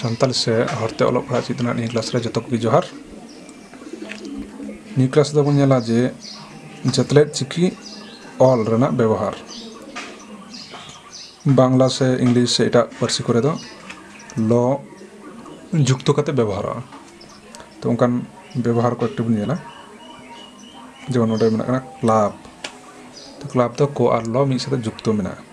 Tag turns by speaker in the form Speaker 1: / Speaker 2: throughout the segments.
Speaker 1: ᱥᱟᱱᱛᱟᱲ ᱥᱮ ᱦᱚᱨᱛᱮ ᱚᱞᱚᱜ ᱯᱟᱲᱦᱟᱜ ᱪᱮᱫ ᱨᱮᱱᱟᱜ ᱱᱤᱭᱟᱹ ᱠᱞᱟᱥ ᱨᱮ ᱡᱚᱛᱚ ᱠᱚᱜᱮ ᱡᱚᱦᱟᱨ ᱱᱤᱭᱟᱹ ᱠᱞᱟᱥ ᱨᱮᱫᱚ ᱵᱚᱱ ᱧᱮᱞᱟ ᱡᱮ ᱡᱟᱹᱛᱞᱮᱫ ᱪᱤᱠᱤ ᱚᱞ ᱨᱮᱱᱟᱜ ᱵᱮᱵᱚᱦᱟᱨ ᱵᱟᱝᱞᱟ ᱥᱮ ᱤᱝᱞᱤᱥ ᱥᱮ ᱮᱴᱟᱜ ᱯᱟᱹᱨᱥᱤ ᱠᱚᱨᱮ ᱫᱚ ᱞᱚ ᱡᱩᱠᱛᱚ ᱠᱟᱛᱮ ᱵᱮᱵᱚᱦᱟᱨᱚᱜᱼᱟ ᱛᱚ ᱚᱱᱠᱟᱱ ᱵᱮᱵᱚᱦᱟᱨ ᱠᱚ ᱮᱠᱴᱩ ᱵᱚᱱ ᱧᱮᱞᱟ ᱡᱮᱢᱚᱱ ᱱᱚᱰᱮ ᱢᱮᱱᱟᱜ ᱠᱟᱱᱟ ᱠᱞᱟᱵᱽ ᱛᱚ ᱠᱞᱟᱵᱽ ᱫᱚ ᱠᱚ ᱟᱨ ᱞᱚ ᱢᱤᱫ ᱥᱟᱛᱮ ᱡᱩᱠᱛᱚ ᱢᱮᱱᱟᱜᱼᱟ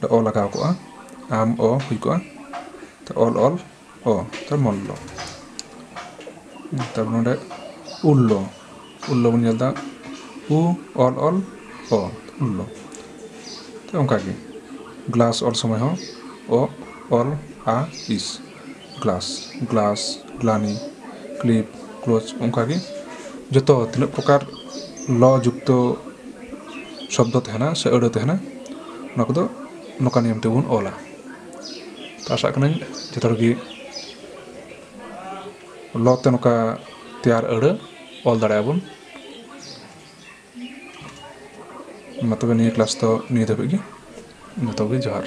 Speaker 1: ᱫᱚ ᱚ ᱞᱟᱜᱟᱣ ᱠᱚᱜᱼᱟ ᱟᱢ ᱚ ᱦᱩᱭ ᱠᱚᱜᱼᱟ ᱛᱚ ᱚᱞ ᱚᱞ ᱚ ᱛᱚ ᱢᱚᱞᱞᱚ ᱛᱟᱨᱯᱚᱨ ᱱᱚᱰᱮ ᱩᱞᱞᱚ ᱩᱞᱞᱚ ᱵᱚᱱ ᱧᱮᱞ ᱮᱫᱟ ᱩ ᱚᱞ ᱚᱞ ᱚ ᱩᱞᱞᱚ ᱛᱚ ᱚᱱᱠᱟᱜᱮ ᱜᱞᱟᱥ ᱚᱞ ᱥᱚᱢᱚᱭ ᱦᱚᱸ ᱚ ᱚᱞ ᱟ ᱤᱥ ᱜᱞᱟᱥ ᱜᱞᱟᱥ ᱜᱞᱟᱱᱤ ᱠᱞᱤᱯ ᱠᱞᱳᱡᱽ ᱚᱱᱠᱟᱜᱮ ᱡᱚᱛᱚ ᱛᱤᱱᱟᱹᱜ ᱯᱨᱚᱠᱟᱨ ᱞᱚ ᱡᱩᱠᱛᱚ ᱥᱚᱵᱫᱚ ᱛᱟᱦᱮᱱᱟ ᱥᱮ ᱟᱹᱲᱟᱹ ᱛᱟᱦᱮᱱᱟ ᱚᱱᱟ ᱠᱚᱫᱚ ᱱᱚᱝᱠᱟ ᱱᱤᱭᱚᱢ ᱛᱮᱵᱚᱱ ᱚᱞᱟ ᱛᱚ ᱟᱥᱟᱜ ᱠᱟᱹᱱᱟᱹᱧ ᱡᱚᱛᱚ ᱦᱚᱲᱜᱮ ᱞᱚ ᱛᱮ ᱱᱚᱝᱠᱟ ᱛᱮᱭᱟᱨ ᱟᱹᱲᱟᱹ ᱚᱞ ᱫᱟᱲᱮᱭᱟᱜᱼᱟ ᱵᱚᱱ ᱢᱟ ᱛᱚᱵᱮ ᱱᱤᱭᱟᱹ ᱠᱞᱟᱥ ᱫᱚ ᱱᱤᱭᱟᱹ ᱫᱷᱟᱹᱵᱤᱡ ᱜᱮ ᱡᱚᱛᱚᱜᱮ ᱡᱚᱦᱟᱨ